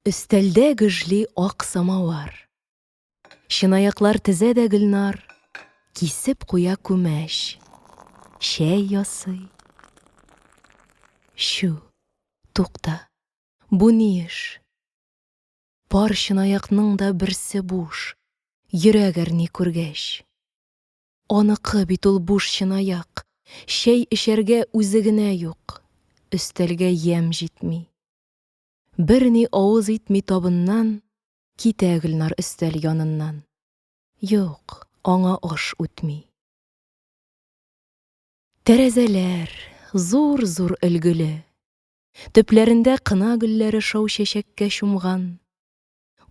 Өстәлдә гөжли ак самавар. Чынаяклар тезә дә Гөлнар, кисеп куя күмәч. Чәй ясый. Чү, тукта, бу ни эш? Пар чынаякның да берсе буш, йөрәк әрни күргәч. Аныкы бит ул буш чынаяк, Чәй эчәргә үзе генә юк, Өстәлгә ямь җитми. Берни авыз итми табыннан, Китә Гөлнар өстәл яныннан. Юк, аңа аш үтми. Тәрәзәләр, зур-зур өлгеле. Төпләрендә кына гөлләре Шау чәчәккә чумган.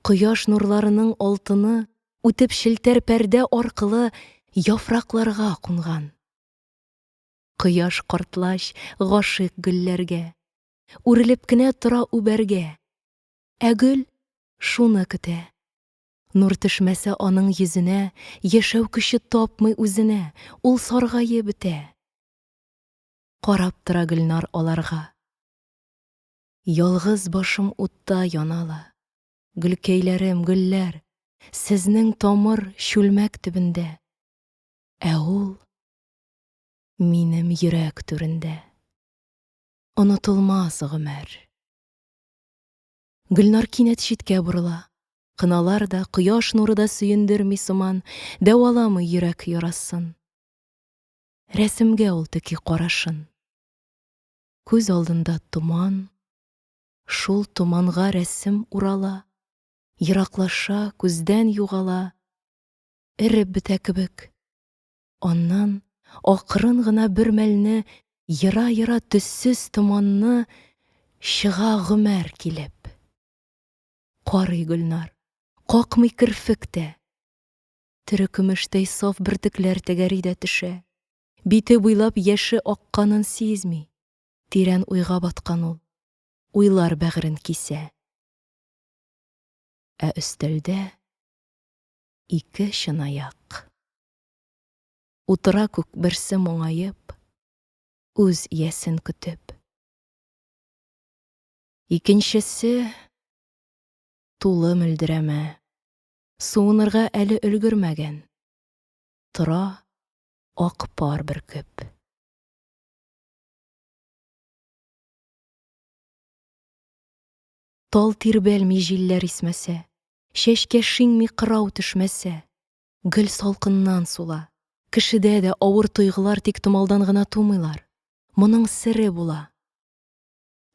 Кояш нурларының алтыны үтеп челтәр пәрдә аркылы яфракларга кунган. Кояш картлач гашыйк гөлләргә, үрелеп кенә тора үбәргә. Ә гөл шуны көтә. Нур төшмәсә аның йөзенә, яшәү көче тапмый үзенә, ул саргаеп бетә. Карап тора Гөлнар аларга. Ялгыз башым утта яна ла. Гөлкәйләрем, гөлләр, сезнең тамыр чүлмәк төбендә, Ә ул минем йөрәк түрендә. Онытылмас гомер. Гөлнар кинәт читкә борыла. Кыналар да, кояш нуры да сөендерми сыман, дәваламый йөрәк ярасын. Рәсемгә ул текий карашын. Күз алдында томан, Шул томанга рәсем урала, Ераклаша, күздән югала, Эреп бетә кебек. Аннан акрын гына бер мәлне Ера-ера төссез томанны Чыга Гомәр килеп. Карый Гөлнар, какмый керфек тә. Тере көмештәй саф бөртекләр Тәгәри дә төшә. Бите буйлап яше акканын сизми. Тирән уйга баткан ул. Уйлар бәгырен кисә. Ә өстәлдә ике чынаяк. Утыра күк берсе моңаеп, үз иясен көтеп. Икенчесе тулы мөлдерәмә, суынырга әле өлгермәгән, тора, Ак пар бөркеп. Тал тирбәлми җилләр исмәсә, Чәчкә шиңми кырау төшмәсә, Гөл салкыннан сула. Кешедә дә авыр тойгылар Тик томалдан гына тумыйлар. Моның сере була.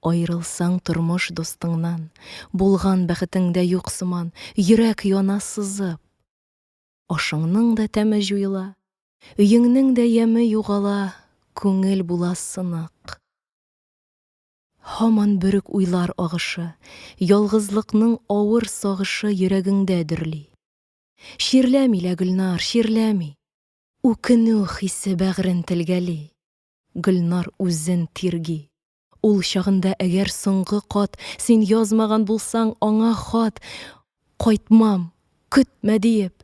Аерылсаң тормыш дустыңнан, Булган бәхетең дә юк сыман, Йөрәк яна сызып. Ашыңның да тәме җуела, Өеңнең дә яме югала, Күңел була сынык. Һаман бөрек уйлар агышы, Ялгызлыкның авыр сагышы Йөрәгеңдә дөрли. Чирләми лә, Гөлнар, чирләми, Үкенү хисе бәгърен телгәли, Гөлнар үзен тирги. Ул чагында әгәр соңгы кат Син язмаган булсаң аңа хат, Кайтмам, көтмә диеп.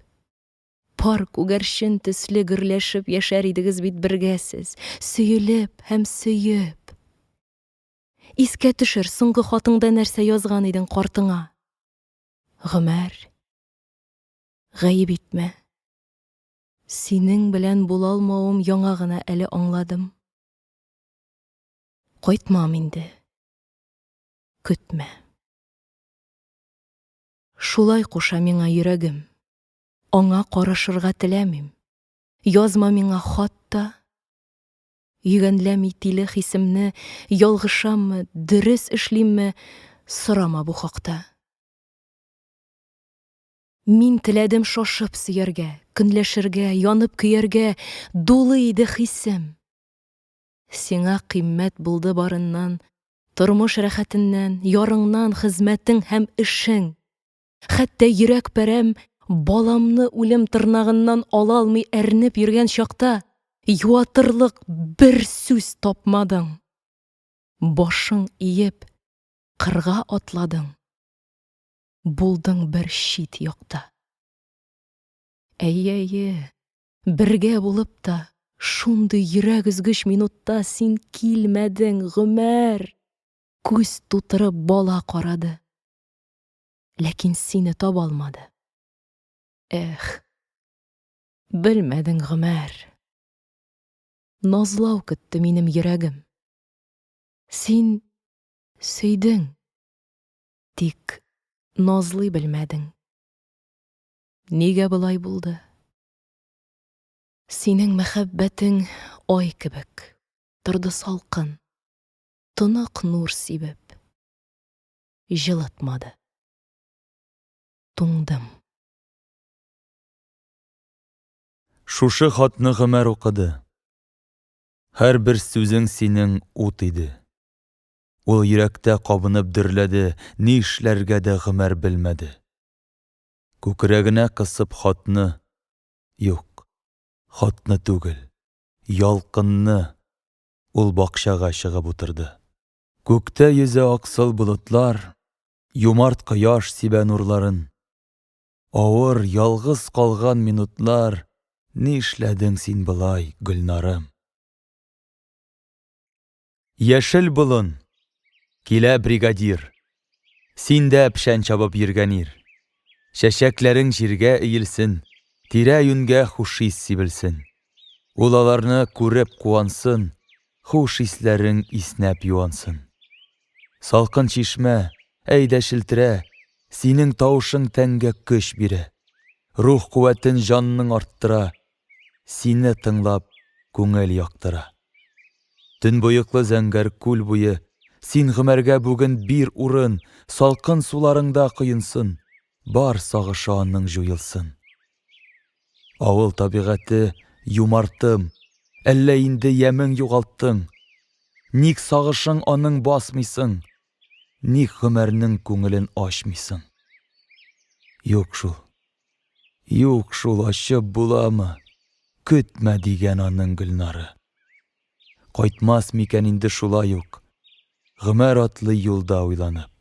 Пар күгәрчен төсле гөрләшеп Яшәр идегез бит бергә сез, Сөелеп һәм сөеп. Искә төшер, соңгы хатыңда Нәрсә язган идең картыңа? Гомәр, гаеп итмә. Синең белән булалмавым Яңа гына әле аңладым. Кайтмам инде. Көтмә. Шулай куша миңа йөрәгем. Аңа карашырга теләмим. Язма миңа хат та. Йөгәнләми тиле хисемне, ялгышаммы, дөрес эшлимме, сорама бу хакта. Мин теләдем шашып сөяргә, көнләшергә, янып көяргә, дулы иде хисем. Сиңа кыйммәт булды барыннан, Тормыш рәхәтеннән, ярыңнан, Хезмәтең һәм эшең. Хәтта йөрәк пәрәм Баламны үлем тырнагыннан Ала алмый әрнеп йөргән чакта, Юатырлык бер сүз тапмадың. Башың иеп, кырга атладың, Булдың бер чит якта. Әйе, әйе. Бергә булып та, шундый йөрәк өзгеч минутта син килмәдең, Гомәр! Күз тутырып бала карады. Ләкин сине таба алмады. Эх! Белмәдең, Гомәр! Назлау көтте минем йөрәгем. Син сөйдең, тик назлый белмәдең. Нигә болай булды? Синең мәхәббәтең ай кебек торды салкын, тонык нур сибеп, җылытмады. Туңдым. Шушы хатны Гомәр укыды. Һәрбер сүзең синең ут иде. Ул йөрәктә кабынып дөрләде, ни эшләргә дә Гомәр белмәде. Күкрәгенә кысып хатны, юк, хатны түгел, ялкынны, ул бакчага чыгып утырды. Күктә йөзә аксыл болытлар, юмарт кояш сибә нурларын. Авыр, ялгыз калган минутлар, нишләдең син болай, Гөлнарым? Яшел болын! Килә бригадир. Син дә пшән чабып йөргән ир. Чәчәкләрең җиргә иелсен, Тирә-юньгә хуш ис сибелсен. Ул аларны күреп куансын, Хуш исләрең иснәп юансын. Салкын чишмә, әйдә челтерә, Синең тавышың тәнгә көч бирә. Рух куәтен җанның арттыра, Сине тыңлап, күңел яктыра. Төнбоеклы зәңгәр күл буе, Син Гомәргә бүген бир урын, Салкын суларыңда коенсын, Бар сагышы анның җуелсын. Авыл табигате, юмартым, Әллә инде ямең югалттың? Ник сагышың аның басмыйсың, Ник Гомәрнең күңелен ачмыйсың? Юк шул, Юк шул, ачып буламы? Көтмә, дигән аның Гөлнары. Кайтмас микән инде шулай ук? Гомәр атлый юлда уйланып.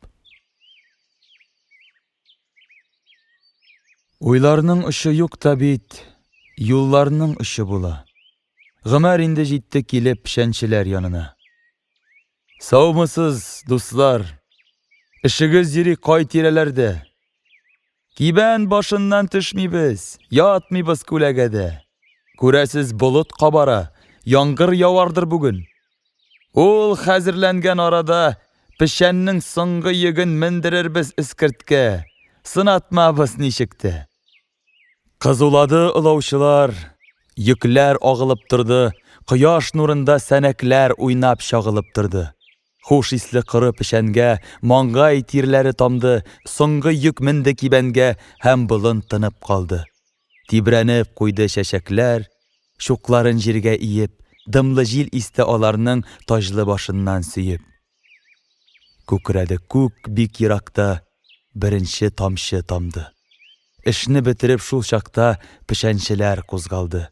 Уйларның очы юк та бит, юлларның очы була. Гомәр инде җитте килеп пшәнчеләр янына. Саумысыз, дуслар! Эшегез йөри кай тирәләрдә? Кибән башыннан төшмибез, ятмыйбыз күләгәдә. Күрәсез, болыт кабара, яңгыр явардыр бүген. Ул хәзерләнгән арада печәннең соңгы йөген мендерербез эскерткә, сынатмабыз ничек тә. Кызулады олаучылар, йөкләр агылып торды, кояш нурында сәнәкләр уйнап-чагылып торды. Хуш исле коры печәнгә Маңгай тирләре тамды, Соңгы йөк менде кибәнгә Һәм болын тынып калды. Тибрәнеп куйды чәчәкләр, Чукларын җиргә иеп, Дымлы җил исте аларның Таҗлы башыннан сөеп. Күкрәде күк бик еракта, Беренче тамчы тамды. Эшне бетереп шул чакта Печәнчеләр кузгалды.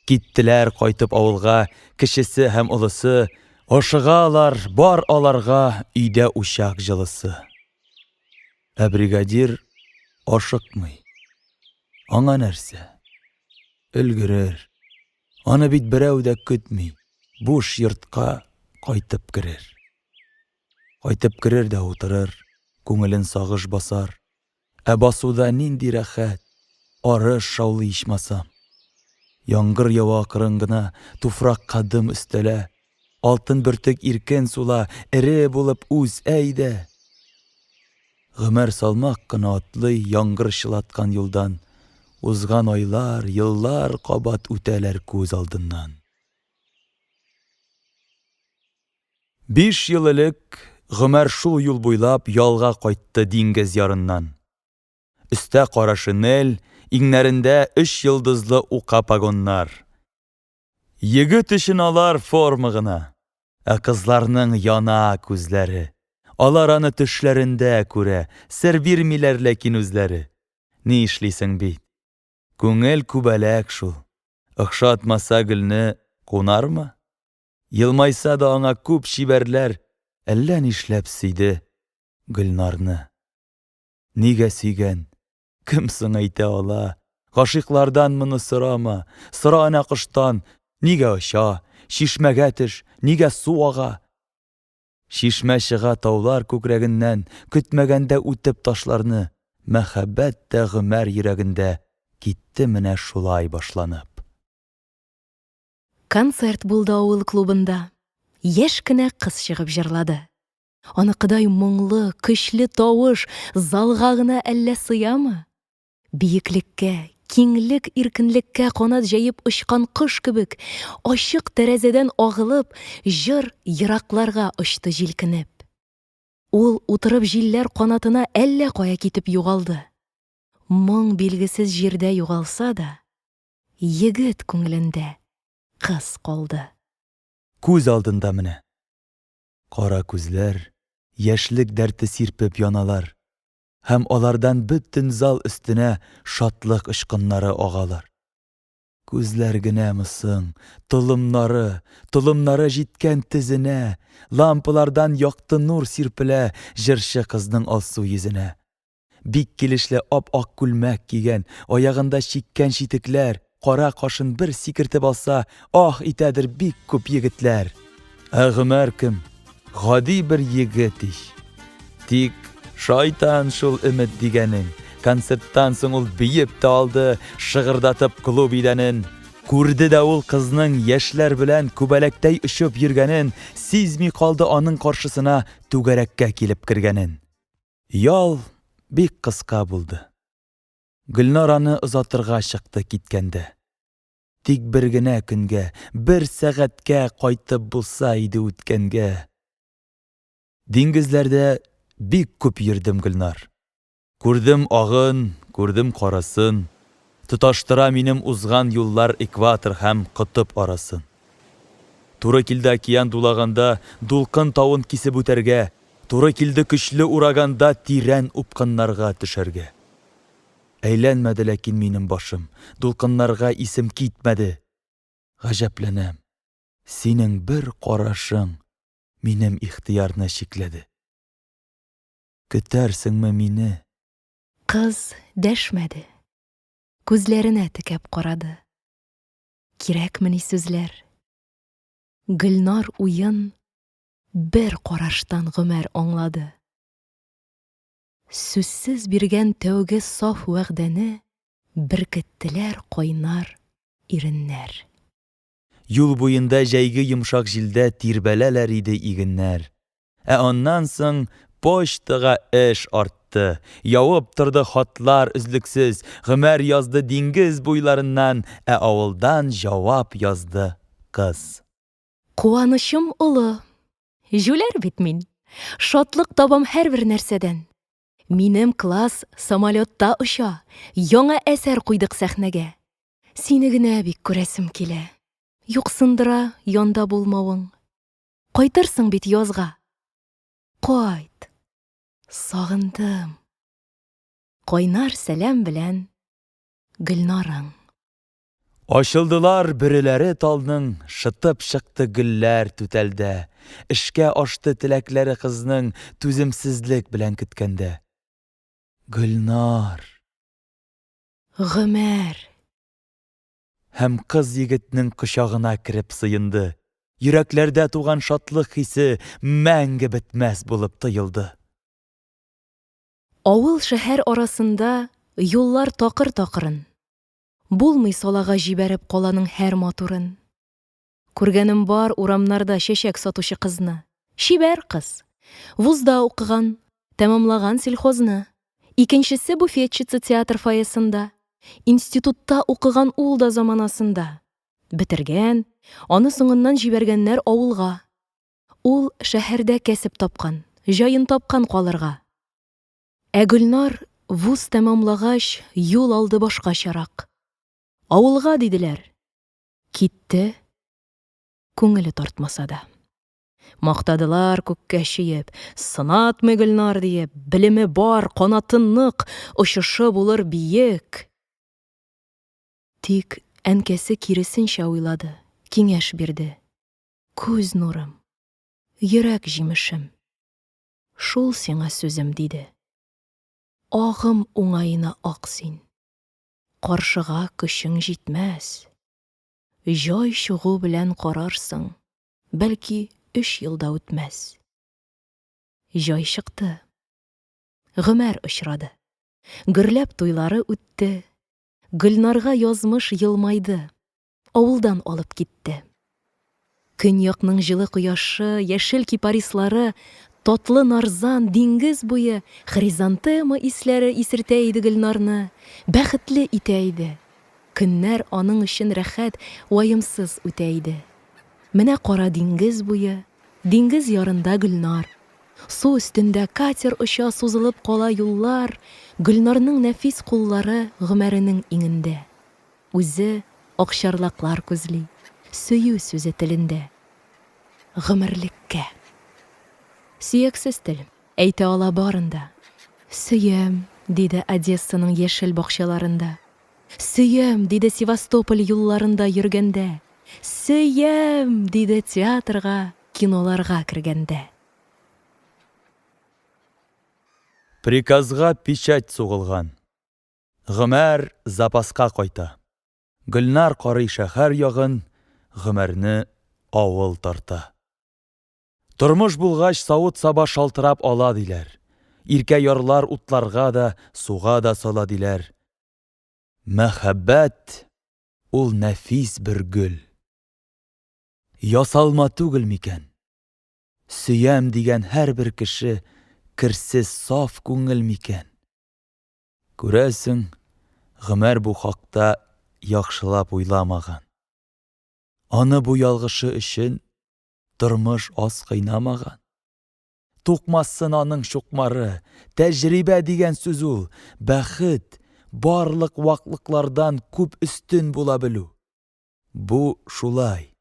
Киттеләр кайтып авылга Кечесе һәм олысы, Ашыгалар, бар аларга Өйдә учак җылысы. Ә бригадир ашыкмый. Аңа нәрсә? Өлгерер. Аны бит берәү дә көтми, буш йортка кайтып керер. Кайтып керер дә утырыр, күңелен сагыш басар. Ә басуда нинди рәхәт, арыш шаулый ичмасам. Яңгыр ява акрын гына, туфракка дым өстәлә, алтын бөртек иркен сула, эре булып үс, әй дә! Гомәр салмак кына атлый яңгыр чылаткан юлдан, узган айлар, еллар кабат үтәләр күз алдыннан. Биш ел элек Гомәр шул юл буйлап ялга кайтты диңгез ярыннан. Өстә кара шинель, иңнәрендә өч йолдызлы ука погоннар. Егет өчен алар форма гына. Ә кызларның яна күзләре. Алар аны төшләрендә күрә, сер бирмиләр ләкин үзләре. Ни эшлисең бит. Күңел күбәләк шул. Охшатмаса гөлне кунармы? Елмайса да аңа күп чибәрләр әллә нишләп сөйде Гөлнарны. Нигә сөйгән? Кем соң әйтә ала? Гашыйклардан моны сорама, сора әнә коштан, нигә оча, чишмәгә төш, нигә су ага? Чишмә чыга таулар күкрәгеннән, көтмәгәндә үтеп ташларны, мәхәббәт тә Гомәр йөрәгендә китте менә шулай башланып. Концерт булды авыл клубында. Яшь кенә кыз чыгып җырлады. Аныкыдай моңлы, көчле тавыш залга гына әллә сыямы? Биеклеккә, киңлек, иркенлеккә канат җәеп очкан кош кебек, ачык тәрәзәдән агылып, җыр еракларга очты җилкенеп. Ул утырып җилләр канатына әллә кая китеп югалды. Моң билгесез җирдә югалса да, Егет күңелендә кыз калды. Күз алдында менә. Кара күзләр, яшьлек дәрте сирпеп яналар. Һәм алардан бөтен зал өстенә шатлык очкыннары агалар. Күзләр генәме соң, толымнары, толымнары җиткән тезенә, лампалардан якты нур сирпелә җырчы кызның алсу йөзенә. Бик килешле ап-ак күлмәк кигән, аягында чиккән читекләр, кара кашын бер сикертеп алса, ах итәдер бик күп егетләр. Ә Гомәр кем? Гади бер егет ич. Тик шайтан шул өмет дигәнең. Концерттан соң ул биеп тә алды, шыгырдатып клуб идәнен. Күрде дә ул кызның яшьләр белән күбәләктәй очып йөргәнен, сизми калды аның каршысына түгәрәккә килеп кергәнен. Ял бик кыска булды. Гөлнар аны озатырга чыкты киткәндә. Тик бер генә көнгә, бер сәгатькә кайтып булса иде үткәнгә. Диңгезләрдә бик күп йөрдем, Гөлнар. Күрдем агын, күрдем карасын. Тоташтыра минем узган юллар Экватор һәм котып арасын. Туры килде океан дулаганда Дулкын тавын кисеп үтәргә, Туры килде көчле ураганда Тирән упкыннарга төшәргә. Әйләнмәде ләкин минем башым, Дулкыннарга исем китмәде. Гаҗәпләнәм, синең бер карашың Минем ихтыярны чикләде. Көтәрсеңме мине? Кыз дәшмәде. Күзләренә текәп карады. Кирәкмени сүзләр? Гөлнар уен бер караштан Гомәр аңлады. Сүзсез биргән тәүге саф вәгъдәне беркеттеләр кайнар иреннәр. Юл буенда җәйге йомшак җилдә тирбәләләр иде игеннәр. Ә аннан соң почтага эш артты. Явып торды хатлар өзлексез, Гомәр язды диңгез буйларыннан, ә авылдан җавап язды кыз. Куанычым олы. Җүләр бит мин. Шатлык табам һәрбер нәрсәдән. Минем класс самолетта оча, яңа әсәр куйдык сәхнәгә. Сине генә бик күрәсем килә. Юксындыра янда булмавың. Кайтырсың бит язга. Кайт! Сагындым. Кайнар сәлам белән Гөлнарың. Ачылдылар бөреләре талның, Шытып чыкты гөлләр түтәлдә. Эшкә ашты теләкләре кызның, Түземсезлек белән көткәндә. Гөлнар! Гомәр! Һәм кыз егетнең кочагына кереп сыенды. Йөрәкләрдә туган шатлык хисе мәңге бетмәс булып тоелды. Авыл-шәһәр арасында юллар такыр-такырын. Булмый салага җибәреп каланың һәр матурын. Күргәнем бар урамнарда чәчәк сатучы кызны. Чибәр кыз. Вузда укыган, тәмамлаган сельхозны. Икенчесе буфетчица театр фойесында. Институтта укыган ул да заманасында. Бетергән, аны соңыннан җибәргәннәр авылга. Ул шәһәрдә кәсеп тапкан, җаен тапкан калырга. Ә Гөлнар вуз тәмамлагач, юл алды башкачарак. Авылга, диделәр. Китте, күңеле тартмаса да. Мактадылар күккә чөеп, сынатмый Гөлнар диеп, белеме бар, канаты нык, очышы булыр биек. Тик әнкәсе киресенчә уйлады, киңәш бирде. Күз нурым, йөрәк җимешем. Шул сиңа сүзем, диде. Агым уңаена ак син. Каршыга көчең җитмәс. Җай чыгу белән карарсың, бәлки, өч ел да үтмәс. Җай чыкты. Гомәр очрады. Гөрләп туйлары үтте. Гөлнарга язмыш елмайды. авылдан алып китте. Көньякның җылы кояшы, яшел кипарислары, татлы нарзан, диңгез буе хризантема исләре исертә иде Гөлнарны, бәхетле итә иде. Көннәр аның өчен рәхәт, ваемсыз үтә иде. Менә кара диңгез буе, диңгез ярында Гөлнар. Су өстендә катер оча, сузылып кала юллар, Гөлнарның нәфис куллары Гомәренең иңендә. Үзе акчарлаклар күзли. Сөю сүзе телендә. Гомерлеккә. Сөяксез тел, әйтә ала барын да. Сөям, диде Одессаның яшел бакчаларында. Сөям, диде Севастополь юлларында йөргәндә. Сөям! диде театрга, киноларга кергәндә. Приказга печать сугылган. Гомәр запаска кайта. Гөлнар карый шәһәр ягын, Гомәрне авыл тарта. Тормыш булгач, савыт-саба шалтырап ала, диләр. Иркә ярлар утларга да, суга да сала, диләр. Мәхәббәт, ул нәфис бер гөл. Ясалма түгел микән? Сөям дигән һәрбер кеше керсез саф күңел микән? Күрәсең, Гомәр бу хакта яхшылап уйламаган. Аны бу ялгышы өчен тормыш аз кыйнамаган. Тукмасын аның чукмары, тәҗрибә дигән сүз ул, бәхет, барлык ваклыклардан күп өстен була белү. Бу шулай.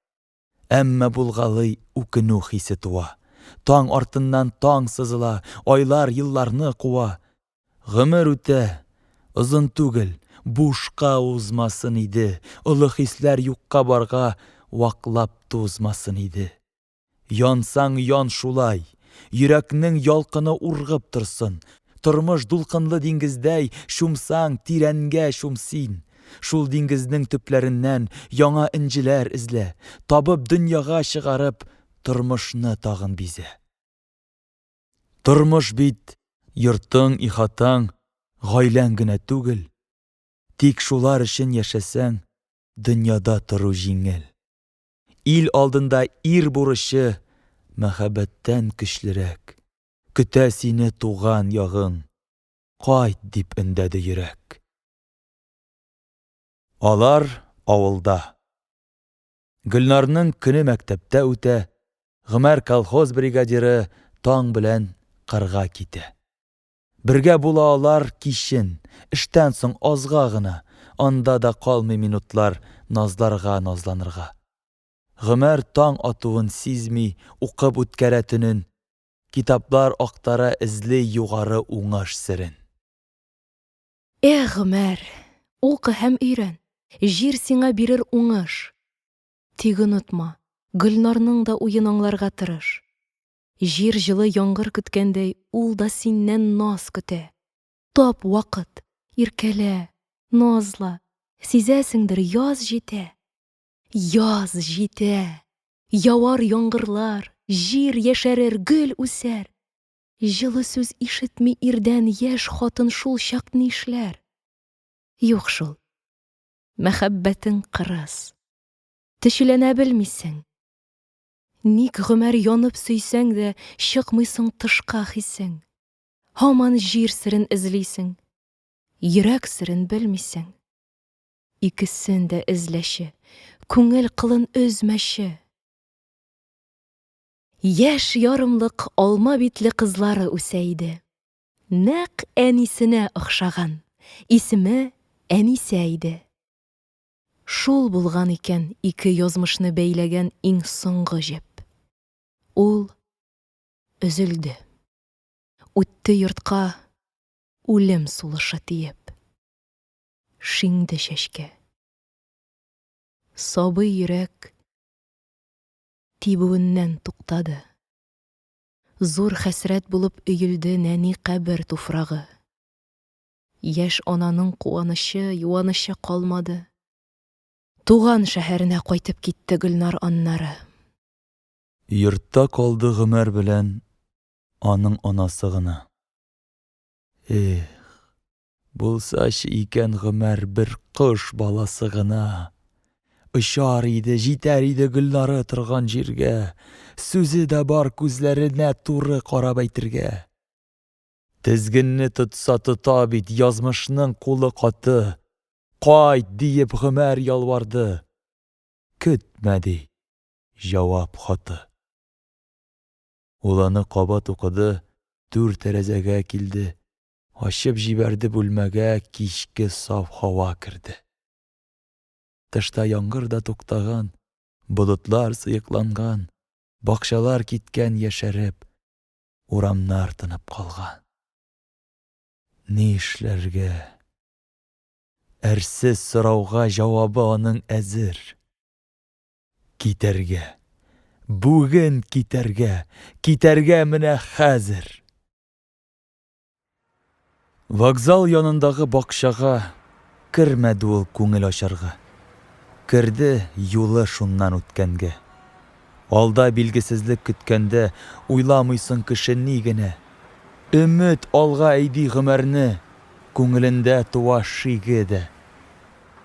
Әмма булгалый үкенү хисе туа. Таң артыннан таң сызыла, айлар елларны куа. Гомер үтә, озын түгел, бушка узмасын иде, олы хисләр юкка барга ваклап тузмасын иде. Янсаң ян шулай, йөрәкнең ялкыны ургып торсын, Тормыш дулкынлы диңгездәй чумсаң, тирәнгә чум син. Шул диңгезнең төпләреннән яңа энҗеләр эзлә, табып дөньяга чыгарып, тормышны тагын бизә. Тормыш бит йортың, ихатаң, гаиләң генә түгел. Тик шулар өчен яшәсәң, дөньяда тору җиңел. Ил алдында ир бурычы мәхәббәттән көчлерәк. Көтә сине туган ягың. Кайт, дип өндәде йөрәк. Алар авылда. Гөлнарның көне мәктәптә үтә, Гомәр колхоз бригадиры таң белән кырга китә. Бергә була алар кичен, эштән соң азга гына, анда да калмый минутлар назларга-назланырга. Гомәр таң атуын сизми, укып үткәрә төнен. Китаплар актара, эзли югары уңыш серен. Эх, Гомәр, укы һәм өйрән, җир сиңа бирер уңыш. Тик онытма, Гөлнарның да уен аңларга тырыш. Җир җылы яңгыр көткәндәй, ул да синнән наз көтә. Тап вакыт, иркәлә, назла, сизәсеңдер, яз җитә. Яз җитә! Явар яңгырлар, җир яшәрер, гөл үсәр. Җылы сүз ишетми ирдән яшь хатын шул чак нишләр? Юк шул. Мәхәббәтең кырыс. Төчеләнә белмисең. Ник гомер янып сөйсәң дә, чыкмыйсың тышка хисең? Һаман җир серен эзлисең. Йөрәк серен белмисең. Икесен дә эзләче. Күңел кылын өзмәче. Яшь ярымлык алма битле кызлары үсә иде. Нәкъ әнисенә охшаган. Исеме Әнисә иде. Шул булган икән ике язмышны бәйләгән иң соңгы җеп. Ул өзелде. Үтте йортка үлем сулышы тиеп. шиңде чәчкә. Сабый йөрәк тибүеннән туктады. Зур хәсрәт булып өелде нәни кабер туфрагы. Яшь ананың куанычы, юанычы калмады. Туган шәһәренә кайтып китте Гөлнар аннары. Йортта калды Гомәр белән аның анасы гына. Эх, Булсачы икән Гомәр бер кош баласы гына! Очар иде, җитәр иде Гөлнары торган җиргә. Сүзе дә бар күзләренә туры карап әйтергә. Тезгенне тотса тота бит, язмышның кулы каты. Кайт, диеп Гомәр ялварды. Көтмә, ди, җавап хаты. Ул аны кабат укыды, түр тәрәзәгә килде. Ачып җибәрде Бүлмәгә кичке саф һава керде. Тышта яңгыр да туктаган, Болытлар сыекланган, Бакчалар киткән яшәреп, Урамнар тынып калган. Ни эшләргә? Әрсез сорауга Җавабы аның әзер. Китәргә! Бүген китәргә! Китәргә менә хәзер! Вокзал янындагы бакчага кермәде ул күңел ачарга. Керде юлы шуннан үткәнгә. Алда билгесезлек көткәндә, уйламыйсың кеше ни генә. Өмет алга әйди гомерне, күңелендә туа шиге дә.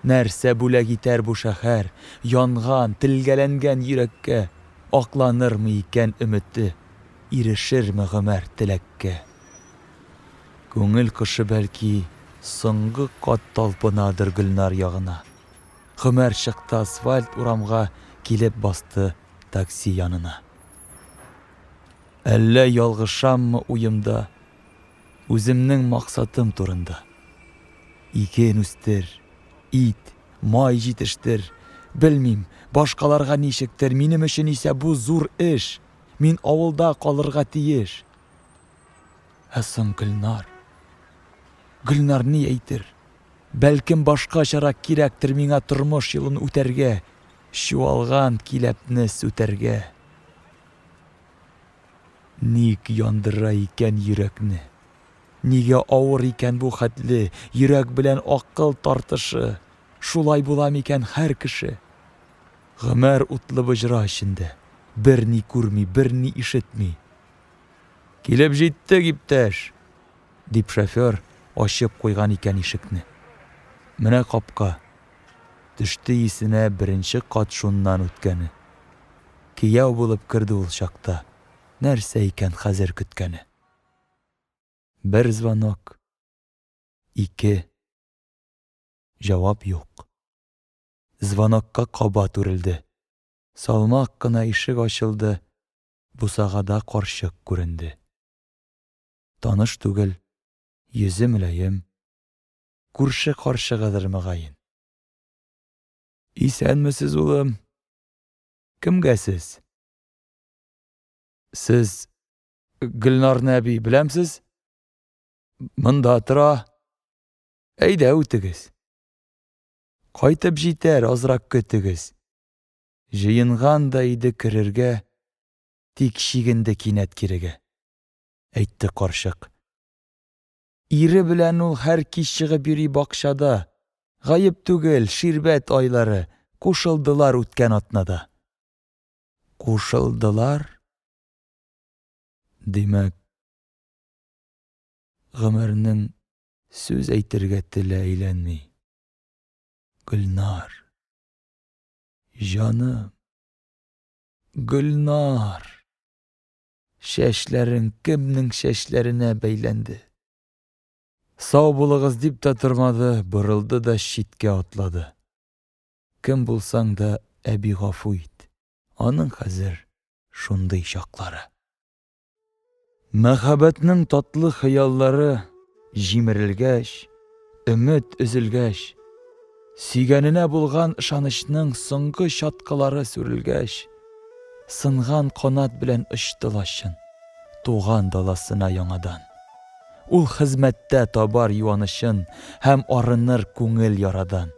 Нәрсә бүләк итәр бу шәһәр, янган, телгәләнгән йөрәккә, акланырмы икән өмете? Ирешерме Гомәр теләккә? Күңел кошы, бәлки, соңгы кат талпынадыр Гөлнар ягына. Гомәр чыкты асфальт урамга, килеп басты такси янына. Әллә ялгышаммы уемда, үземнең максатым турында? Иген үстер, ит, май җитештер, белмим, башкаларга ничектер, минем өчен исә бу зур эш. Мин авылда калырга тиеш. Ә соң Гөлнар? Гөлнар ни әйтер? Бәлкем башкачарак кирәктер миңа тормыш юлын үтәргә, чуалган киләпне сүтәргә. Ник яндыра икән йөрәкне? Нигә авыр икән бу хәтле йөрәк белән акыл тартышы? Шулай була микән һәр кеше? Гомәр утлы боҗра эчендә. Берни күрми, берни ишетми. Килеп җиттек, иптәш! дип шофер ачып куйган икән ишекне. Менә капка. Төште исенә беренче кат шуннан үткәне. Кияү булып керде ул чакта. Нәрсә икән хәзер көткәне? Бер звонок. Ике. Җавап юк. звонокка кабат үрелде. Салмак кына ишек ачылды, бусагада карчык күренде. Таныш түгел, йөзе мөлаем, күрше карчыгыдыр мөгаен. Исәнмесез, улым! Кемгә сез? Сез Гөлнарны әби беләмсез? Монда тора. Әйдә, үтегез. Кайтып җитәр, азрак көтегез. Җыенган да иде керергә, тик чигенде кинәт кирегә. Әйтте карчык. Ире белән ул һәр кич чыгып йөри бакчада. Гаеп түгел, ширбәт айлары, кушылдылар үткән атнада. Кушылдылар? Димәк, гомернең сүз әйтергә теле әйләнми. Гөлнар. Җаным. Гөлнар. Чәчләрең кемнең чәчләренә бәйләнде? Сау булыгыз дип тә тормады, борылды да читкә атлады. Кем булсаң да, әби гафу ит. Аның хәзер шундый чаклары. Мәхәббәтнең татлы хыяллары җимерелгәч, өмет өзелгәч, сөйгәненә булган ышанычның соңгы чаткылары сүрелгәч, сынган канат белән очты лачын, туган даласына яңадан. Ул хезмәттә табар юанычын һәм арыныр күңел ярадан.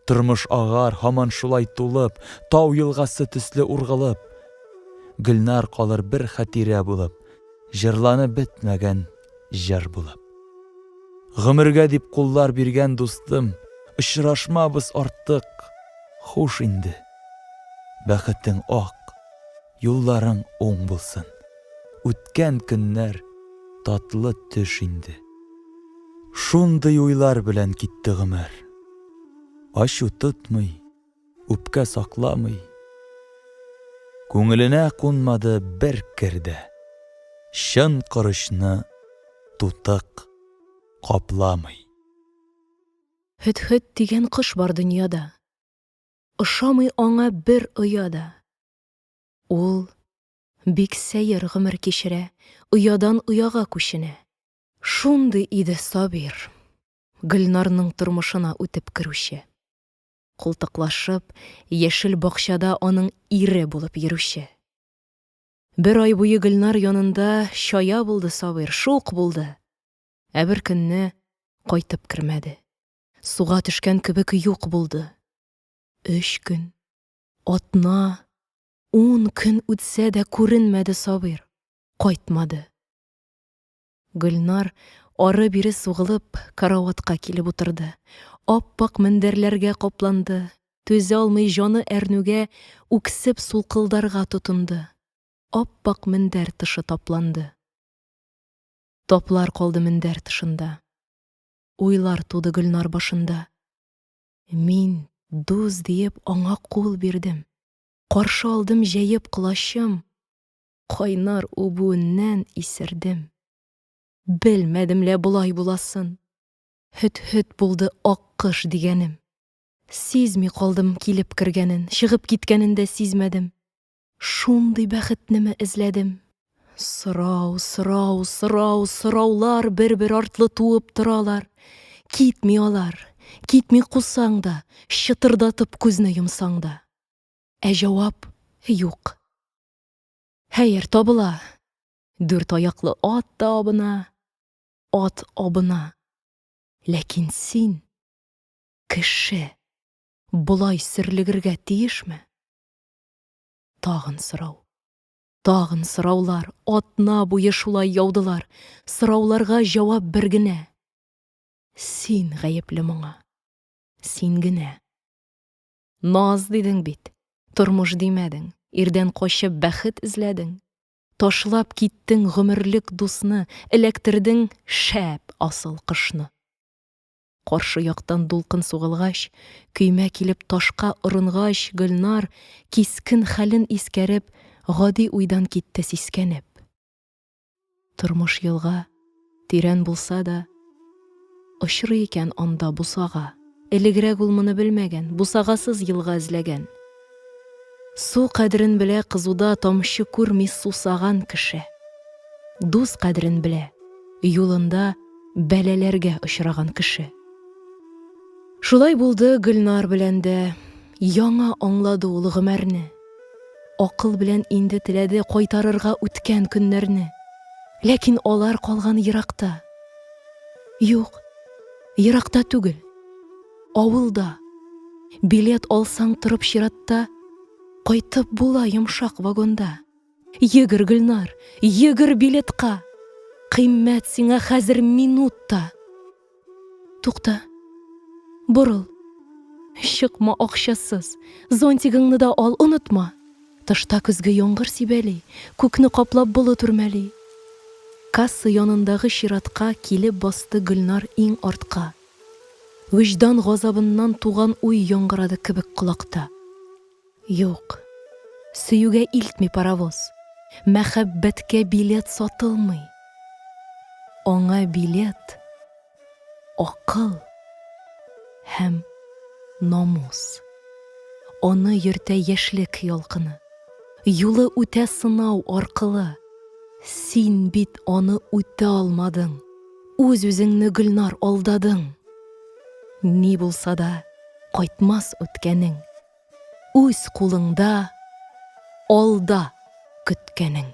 Тормыш агар һаман шулай тулып, Тау елгасы төсле ургылып. Гөлнар калыр бер хәтирә булып, Җырланып бетмәгән җыр булып. Гомергә дип куллар биргән дустым, Очрашмабыз артык, хуш инде. Бәхетең ак. Юлларың уң булсын. Үткән көннәр татлы төш инде. Шундый уйлар белән китте гомер. Ачу тотмый, үпкә сакламый. Күңеленә кунмады бер кер дә. Чын корычны тутык капламый. Һөдһөд дигән кош бар дөньяда. Ошамый аңа бер оя да. Ул бик сәер гомер кичерә, оядан ояга күченә. Шундый иде Сабир, Гөлнарның тормышына үтеп керүче. Култыклашып, яшел бакчада аның ире булып йөрүче. Бер ай буе Гөлнар янында чая булды Сабир, шук булды. Ә бер көнне кайтып кермәде. Суга төшкән кебек юк булды. Өч көн, Атна, ун көн үтсә дә күренмәде Сабир, кайтмады. Гөлнар, ары-бире сугылып, караватка килеп утырды. Ап-ак мендәрләргә капланды. Түзә алмый, җаны әрнүгә, үксеп сулкылдарга тотынды. Ап-ак мендәр тышы тапланды. Таплар калды мендәр тышында. Уйлар туды Гөлнар башында. Мин, дус диеп, аңа кул бирдем. Каршы алдым җәеп колачым, Кайнар үбүеннән исердем. Белмәдем лә болай буласын, Һөт-һөт булды аккош дигәнем. Сизми калдым килеп кергәнен, Чыгып киткәнен дә сизмәдем. Шундый бәхетнеме эзләдем? Сорау, сорау, сорау, сораулар бер-бер артлы туып торалар. Китми алар, китми кусаң да, чытырдатып күзне йомсаң да. Ә җавап юк. Хәер, табыла. Дүрт аяклы ат та абына, ат абына. Ләкин син, кеше, болай сөрлегергә тиешме? Тагын сорау. Тагын сораулар. Атна буе шулай яудылар. Сорауларга җавап бер генә. Син гаепле моңа. Син генә. Наз дидең бит. Тормыш димәдең. Ирдән качып бәхет эзләдең. Ташлап киттең гомерлек дусны, эләктердең шәп асыл кошны. Каршы яктан дулкын сугылгач, көймә килеп ташка орынгач, Гөлнар, кискен хәлен искәреп, гади уйдан китте, сискәнеп. Тормыш елга, тирән булса да, Очрый икән анда бусага. Элегрәк ул моны белмәгән, Бусагасыз елга эзләгән. Су кадерен белә кызуда Тамчы күрми сусаган кеше. Дус кадерен белә юлында Бәлаләргә очраган кеше. Шулай булды Гөлнар белән дә, Яңа аңлады ул гомәрне. Акыл белән инде теләде Кайтарырга үткән көннәрне. Ләкин алар калган еракта. Юк, еракта түгел. Авылда. Билет алсаң торып чиратта, Кайтып була йомшак вагонда. Йөгер, Гөлнар, йөгер билетка, Кыйммәт сиңа хәзер минут та. Тукта, борыл, чыкма акчасыз, Зонтигыңны да ал, онытма. Тышта көзге яңгыр сибәли, Күкне каплап болыт үрмәли. Касса янындагы чиратка Килеп басты Гөлнар иң артка. Вөҗдан газабыннан туган уй яңгырады кебек колакта. Юк, сөюгә илтми паровоз, мәхәббәткә билет сатылмый. Аңа билет, акыл һәм намус. Аны йөртә яшьлек ялкыны. Юлы үтә сынау, аркылы. Син бит аны үтә алмадың. Үз-үзеңне, Гөлнар, алдадың. Ни булса да, кайтмас үткәнең. Үз кулыңда, алда көткәнең.